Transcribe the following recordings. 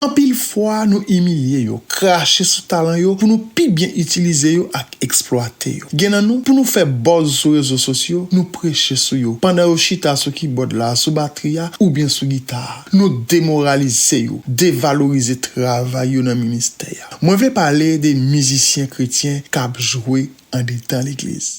Anpil fwa nou imilye yo, krache sou talan yo pou nou pi byen itilize yo ak eksplwate yo. Gen nan nou, pou nou fè buzz sou rezo sosyo, nou preche sou yo, pandan yo chita sou kibòd la, sou batri a, oubyen sou gita a. Nou demoralize yo, devalorize travay yo nan ministè a. Mwen vle pale de mizisyen kretyen k ap jwe andedan legliz.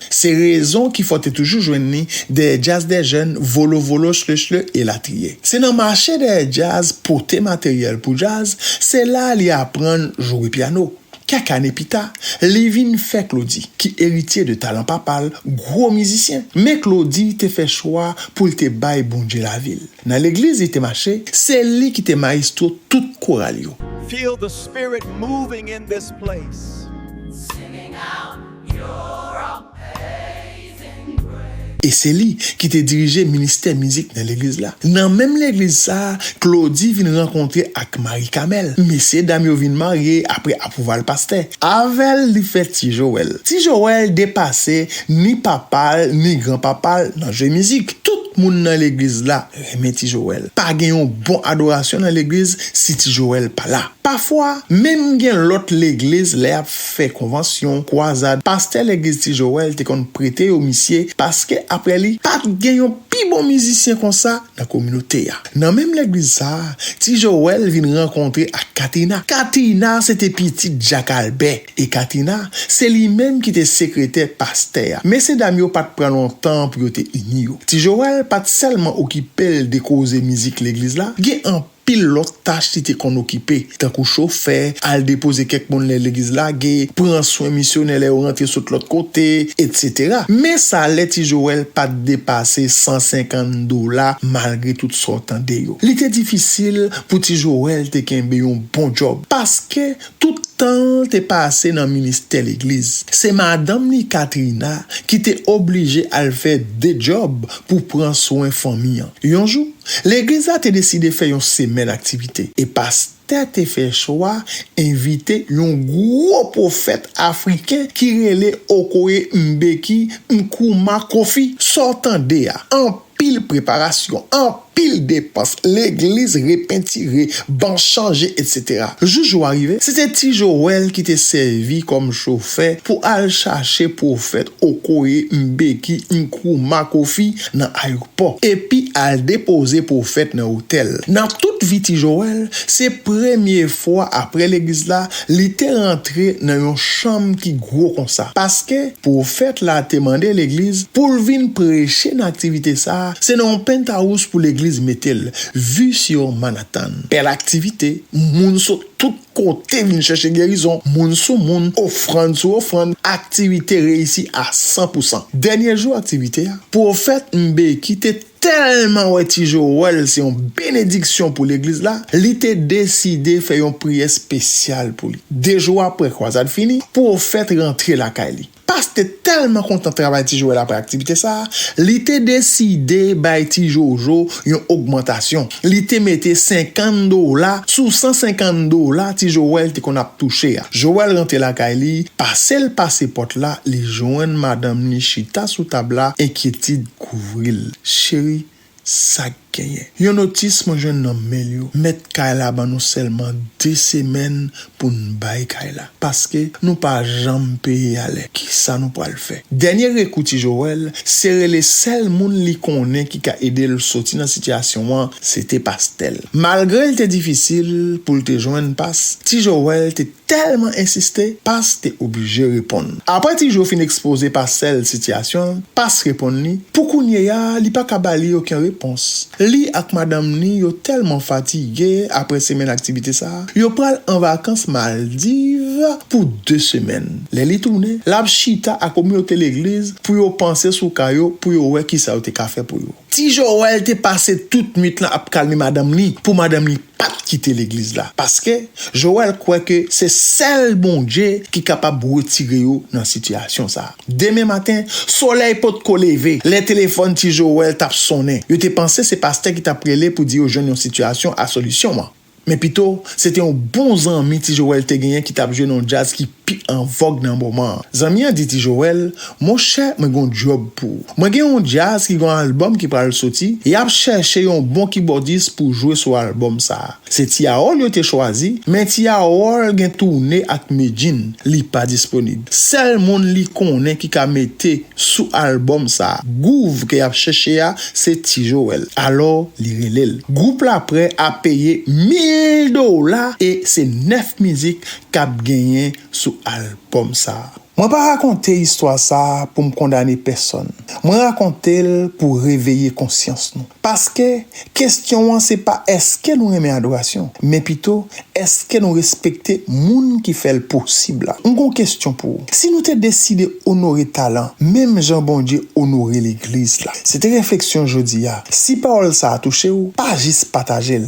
Se rezon ki fè w te toujou jwenn li dèyè djaz dè jèn, volo volo, shle shle, elatriye. Se nan mache dèyè djaz, pote materyèl pou djaz, se la li aprann jwe pyano. Kèk ane pi ta, li vin fè Claudy, ki eritye de talan papa l, gwo mizisyen. Men Claudy te fè chwa pou l te bay Bondye lavi l. Nan legliz li te mache, se li ki te mayestwo tout koral yo. Feel the spirit moving in this place. E se li ki te dirije ministè mizik nan legliz la. Nan menm legliz sa a, Claudy vin rankontre ak Marie Camel. Mesye dam yo vin marye apre apwouval pastè. Avè l li fè Ti Joel. Ti Joel depase ni papa l ni gran papa l nan jwe mizik. Tout moun nan legliz la renmen Ti Joel. Pa gen yon bon adorasyon nan legliz si Ti Joel pa la. Pafwa, menm gen lòt legliz lè y ap. fè konvansyon, kwazad, pastè legliz ti joel te konn prete yo misye paske aprè li pat gen yon pi bon mizisyen konsa nan kominote a. Nan menm legliz sa ti joel vin rankontre ak katina. Katina se te pitit jak albè e katina se li menm ki te sekretè pastè a. Mesye dam yo pat pran lontan pou yo te ini yo. Ti joel pat sèlman okipel de koze mizik legliz la, gen anpil. Pil lòt tach li te konn okipe, tankou chofè, al depoze kèk moun lè legliz lage, pran swen misyonè lè yo rantre sot lòt kote, etsetera. Men salè ti Joel pa t depase 150 dola malgre tout sa w tande yo. Li te difisil pou ti Joel te kenbe yon bon djòb paske, Tout tan l te pase nan ministè legliz, se madanm li Katrina ki te oblije al fè de djòb pou pran swen fanmi an. Yon jou, legliz la te deside fè yon semèn aktivite, e pastè te fè chwa envite yon gwo pwofèt afriken ki rele Okoye Mbeki Nkrumah Kofi. Sa w tande a, an anpil preparasyon, anpil depans, legliz repentire, ban chanje etc. Jou jou a rive, se te Ti Joel ki te sèvi kòm chofè pou al chache pwofèt Okoye Mbeki Nkrumah Kofi nan ayopò, epi al depoze pwofèt nan otèl. Nan tout vi Ti Joel, se premye fwa aprè legliz la Li te rantre nan yon chanm ki gwo konsa, paske pwofèt la te mande legliz pou l vin preche nan aktivite sa a, se nan yon pentawous pou legliz mete l, vi sou Manhattan. Bèl aktivite, moun sot tout kote vin chèche gerizon, moun sou moun, ofrann sou ofrann, aktivite reyisi a san pou san. Dènye jou aktivite a, pwofèt Mbeki te. Tèlman wè Ti Joel se yon benediksyon pou legliz la, li te deside fè yon priyè spesyal pou li. 2 jou apre kwazad fini, pwofèt rantre lakay li. Past te tèlman kontan travay Ti Joel apre aktivite sa a, li te deside bay Ti Jojo yon ogmantasyon. Li te mete 50 dola sou 150 dola Ti Joel te konn ap touche a. Joel rantre lakay li, pase l pase pòt la, li jwenn madanm li chita sou tab la, enkyetid. kouvril cheri sak genyen yon notis mwen jwenn nan mail yo mèt kay la ban nou sèlman 2 semèn poun bay kay la paske nou pa janm peye alè kisa nou pwal fè dènye rekou ti Joel se rele sèl moun li konnen ki ka edel soti nan sitiyasyon an se te pastel malgrel te difisil poul te jwenn pas ti Joel te tèlman ensiste, Pas te oblije reponn. Apre Ti Jo fin ekspoze Pastè l sitiyasyon l, Pas reponn li, pou kounyeya li pa ka ba li oken repons. Li ak madanm ni yo tèlman fatige apre semèn aktivite sa, yo pral an vakans Maldiv pou 2 semèn. Lè li tounen, l ap chita ak kominote legliz pou yo panse sou ka yo, pou yo wè kisa yo te ka fè pou yo. Ti Joel te pase tout nuit lan ap kalme madanm li, pou madanm li. pat kite legliz la paske Joel kwè ke se sèl Bondye ki kapab retire yo nan sitiyasyon sa. Demen maten, solèy potko leve lè telefòn ti Joel tap sonnen. Yo te panse se pastè ki tap rele pou di yo jwenn yon sitiyasyon a solisyon an. Men pito, se te yon bon zanmi ti Joel te genyen ki tap jwe nan yon djaz ki. pi an vòg nan moman an. Zanmi an di Ti Joel, Monchè mwen gen yon djòb pou ou. Mwen gen yon djaz ki gen yon albòm ki pral soti, y ap chèche yon bon kibòdis pou jwe sou albòm sa a. Se Ti Harold yo te chwazi, men Ti Harold gen toune ak Medjine, li pa disponib. Sèl moun li konnen ki ka mete sou albòm sa a, gouv ke y ap chèche a, se Ti Joel. Alò, li rele l. Gwoup la prè a peye mil dola e se nèf mizik kap genyen sou album sa. Mwen pa rakonte istwa sa pou m kondane pèsòn, mwen rakonte l pou reveye konsyans nou. Paske, kestyon an se pa eske nou renmen adorasyon, men pito eske nou respekte moun ki fè l posib la. M gon kestyon pou ou. Si nou te deside onore talan menm jan Bondye onore legliz la. Se te refleksyon jodi a. Si pawòl sa touche w, pa jis pataje l,